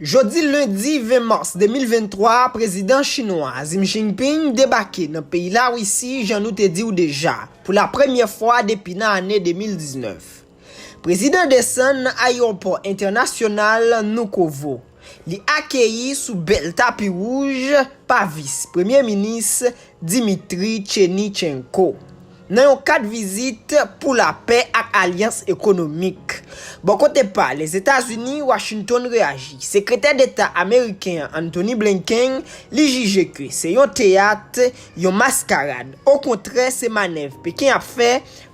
Jodi lendi 20 mas 2023 a prezidan chinwa a Xi Jinping debake nan peyi Larisi jan nou te diw deja pou la premyè fwa depi nan ane 2019. Prezidan desann nan ayewopò entènasyonal Vnukovo, li akeyi sou bèl tapi wouj pa vis premye minis Dmitry Cherniychenko, nan yon kad vizit pou lapè ak alyans ekonomik. Bò kote pa l, Etazini, Washington reyaji. Sekretè Deta ameriken an, Antony Blinken, li jije ke se yon teyat, yon maskarad. Okontrè, se manèv Peken ap fè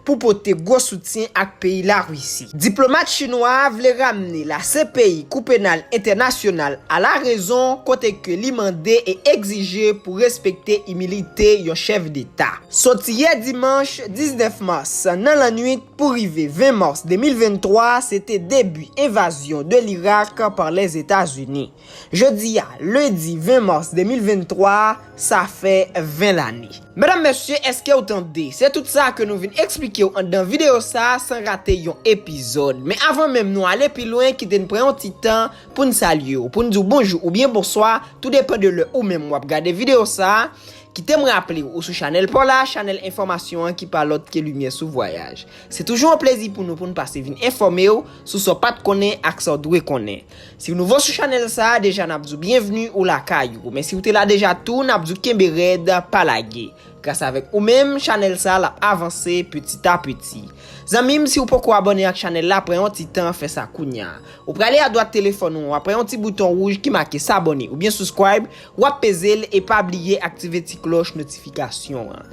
pou pote gwo soutyen ak peyi Larisi. Diplomat chinwa a vle ramne la CPI, Kou Penal Entènasyonal, a la rezon kote ke li mande e egzije pou respekte imilite yon chèf deta. Soti yè dimanch 19 mas nan lannwit pou rive 20 mas 2023 se te debi envazyon de l'Irak par Lèzetazini. Jodi a, lendi 20 mars 2023, sa fè 20 lane. Medam mesye eskew tande? Se tout sa ke nou vin eksplikew anndan video sa san rate yon epizod. Men avan menm nou ale pi lwen kite n pran yon ti tan poun salyew, poun diw bonjou oubyen bonswa, tou depan de lè ou menm wap gade video sa. Kitem raplew ou sou chanèl paw la, chanèl enfòmasyon an ki pa lòt ke limyè sou vwayaj. Se toujou yon plezi pou nou poun pase vin enfòmew sou sa w pat konnen ak sa w dwe konnen. Siw nouvo sou chanèl sa deja nap diw byenvni ou lakay ou men siw te la deja tou nap diw kenbe rèd pa lage gras avèk ou menm chanèl sa lap avanse piti a piti zanmim siw poko abòne ak chanèl la pran yon ti tan fè sa kounya ou prale adwat telefòn ou aprè yon ti bouton wouj ki make sabòne oubyen souscribe wap pezel e pa bliye aktive ti klòch notifikasyon an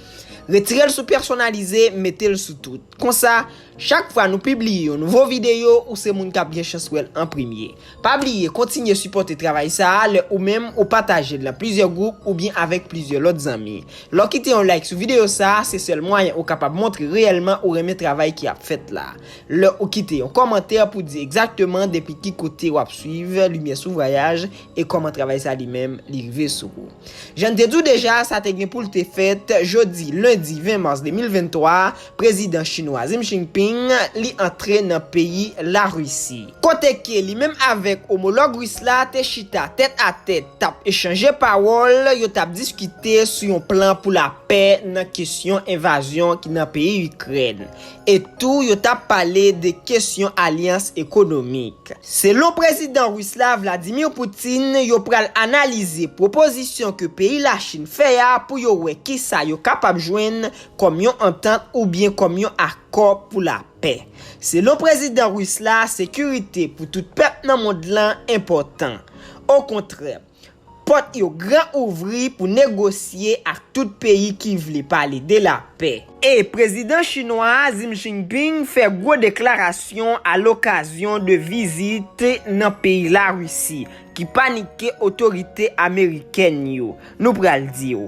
retirel sou pèsonalize metel sou tout konsa Chak fwa nou pibliye yon nouvo videyo ou se moun kap gen chans wèl an premye. Pa bliye kontinye sipòte travay sa a lè ou menm ou patajel nan plizyè gwoup oubyen avèk plizyè lòt zanmi. Lè w kite yon like sou videyo sa a se sèl mwayen ou kapab montre reyèlman ou renmen travay ki ap fèt la. Lè ou kite yon kòmantè pou di egzakteman depi ki kote wap swiv Limyè sou Vwayaj e kòman travay sa li menm li rive sou ou. Jan n te di w deja sa te gen pou l te fèt jodi lendi 20 mas 2023, Prezidan chinwa Xi Jinping li antre nan peyi Larisi. Kote ke li menm avèk omològ Ris la te chita tèt a tèt tap echanje pawòl, yo tap diskite sou yon plan pou lapè nan kesyon envazyon ki nan peyi Ikrèn. E tou yo tap pale de kesyon alyans ekonomik. Selon Prezidan Ris la Vladimir Putin yo pral analize pwopozisyon ke peyi Lachin fè a pou yo wè kisa yo kapab jwenn kòm yon antant oubyen kòm yon akò pou lapè. Selon prezidan ris la, sekirite pou tout pèp nan mond lan enpòtan. Okontrè, pòt yo gran ouvri pou negosye ak tout peyi ki vle pale de lapè. E prezidan chinwa a Xi Jinping fè gwo deklarasyon a lokazyon 2 vizit nan peyi Larisi ki panike otorite amerikèn yo. Nou pral di w.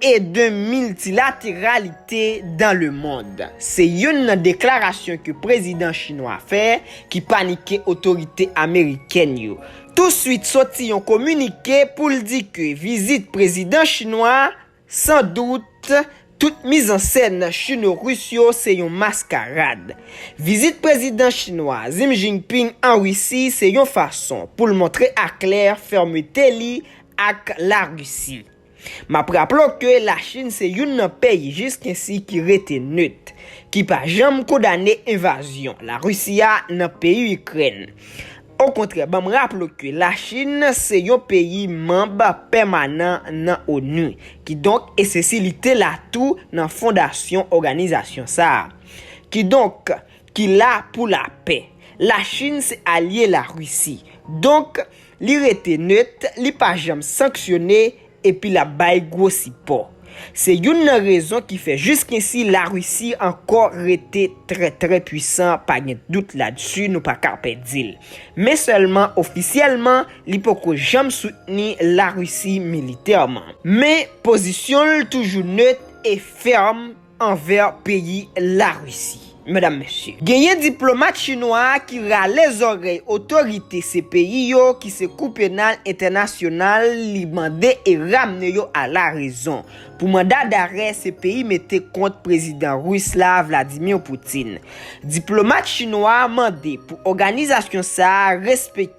e de miltilateralite dan le mond, se youn nan deklarasyon ke prezidan chinwa fè ki panike otorite amerikèn yo. Touswit soti yon kominike pou l di ke vizit prezidan chinwa a, san dout, tout mizansèn chino-ris yo se yon maskarad. Vizit prezidan chinwa Xi Jinping an Risi se yon fason pou l montre aklè fèmete li ak Larisi. M ap raple w ke Lachin se youn nan peyi jiskensi ki rete nöt, ki pa janm kondane envazyon Larisi a nan peyi Ikrèn. Okontrè ban m raple w ke Lachin se yon peyi manb pèmanan nan onu, kidonk esesi li te la tou nan fondasyon òganizasyon sa a. Kidonk. ki la pou lapè. La Chine se alye la Russie. Donk, li rete neut, li pa janm sanksyone, epi lap bay gwo sipò. Se youn nan rezon ki fè jiskinsi la Russie ankò rete trè trè pwisan pa gen dout ladsu nou pa ka pè dil. Men sèlman ofisyèlman li poko janm soutni la Russie militèman. Men pozisyonl toujou neut e fèrm. anvè peyi Larisi. Medam mesye. Genyen diplomat chinwa ki rale zòrèy otorite se peyi yo ki se kou penal entènasyonal li mande e ramne yo a la rezon pou manda darè se peyi mete kont prezidan Ris la Vladimir Putin. Diplomat chinwa mande pou òganizasyon sa respekte.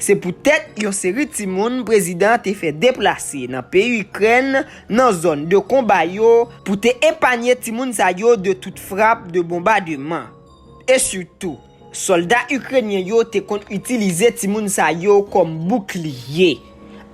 Se poutèt yon seri timoun prezidan an te fè deplase nan peyi Ikrèn nan zòn de konba yo pou te epanye timoun sa yo de tout frap de bonbademan. E sitou, sòlda Ikrenyen yo te konn itilize timoun sa yo kòm boukliye.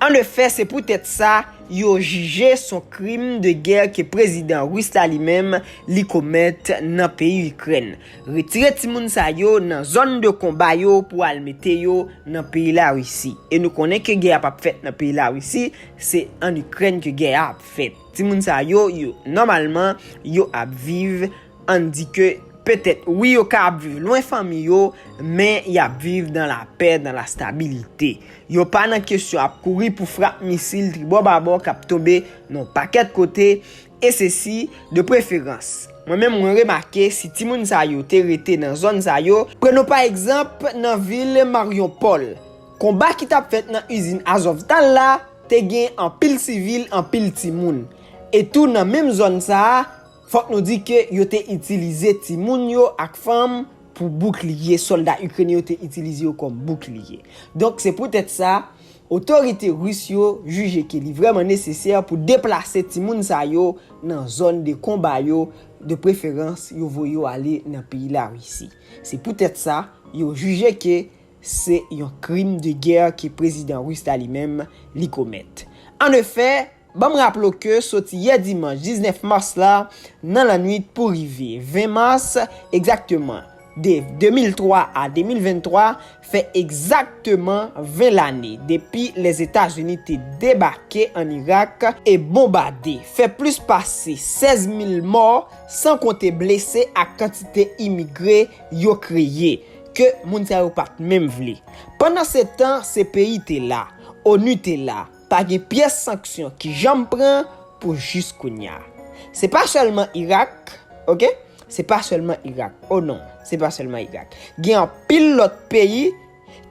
An efè, se poutèt sa, yo jije son krim de gè ke prezidan Ris la li menm li komèt nan peyi Ikrèn. Retire timoun sa yo nan zòn de konba yo pou al mete yo nan peyi Larisi. E nou konnen ke gè a pap fèt nan peyi Larisi, se an Ikrèn ke gè a ap fèt. Timoun sa yo, yo nòmalman, yo ap viv, ann di ke petèt wi yo ka ap viv lwen fanmi yo, men y ap viv dan lapè, dan lastabilite. Yo pa nan kesyon ap kouri pou frap misil tribò babò k ap tonbe nan yon pakèt kote, e se si, de preferans, mwen menm mwen remake si timoun sa yo te rete nan zòn sa yo, prenons pa egzanp nan vil Marionpol, konba ki tap fèt nan izin Azovtal la, te gen anpil sivil, anpil timoun. E tou nan menm zòn sa a, fòk nou di ke yo te itilize timoun yo ak fanm pou boukliye, sòlda Ikrenyen yo te itilize yo kòm boukliye. Donk se poutèt sa, Otorite Ris yo jije ke li vrèman nesesè pou deplase timoun sa yo nan zòn de konba yo, de preferans yo voye yo ale nan peyi Larisi. Se poutèt sa, yo jije ke se yon krim de gè ke Prezidan Ris la li menm li komèt. An efè! Ban m raple w ke soti yè dimanch 19 mas la nan lannwit pou rive 20 mas egzakteman, de 2003 a 2023, fè egzakteman 20 lane depi Lèzetazini te debake ann Irak e bonbade, fè plis pase 16 mil mò, san konte blese ak kantite imigre yo kreye, ke moun sa yo pa t menm vle. Pandansetan, se peyi te la, onu te la, Pa gen pyès sanksyon ki janm pran pou jis kounya. Se pa sèlman Irak, ok, se pa sèlman Irak, o non, se pa sèlman Irak. Gen anpil lòt peyi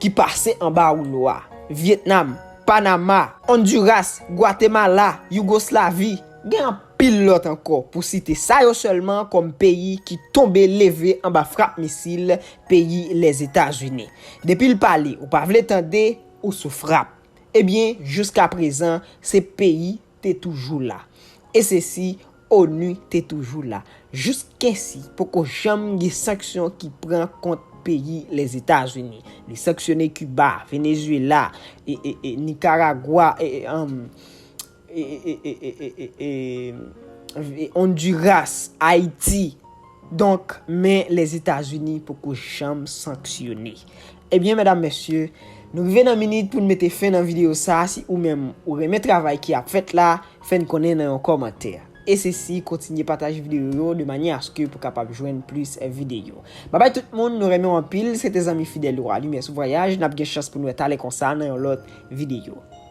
ki pase anba woulo a, Vyetnam, Panama, Onduras, Gwatemala, Yougoslavi, gen anpil lòt ankò pou site sa yo sèlman kòm peyi ki tonbe leve anba frap misil peyi Lèzetazini. Depi l pale ou pa vle tande, ou sou frap. Ebyen jiska prezan se peyi te toujou la e se si onu te toujou la jiskesi poko janm gen sanksyon ki pran kont peyi lèzetazini li sanksyone kiba venezuela e e e nikaragwa e e anm. Honduras, Ayiti, donk men Lèzetazini poko janm sanksyone. Ebyen medam mesye, nou rive nan minit pou n mete fen nan videyo sa, si ou menm ou renmen travay ki ap fèt la, fè n konnen nan yon kòmantè. E se si kontinye pataje videyo yo de manye aske pou kapab jwenn plis videyo. Babay tout moun, nou renmen w anpil, se te zanmi fidèl ou a Limyè sou Vwayaj, n ap gen chans pou n wè talè konsa nan yon lòt videyo.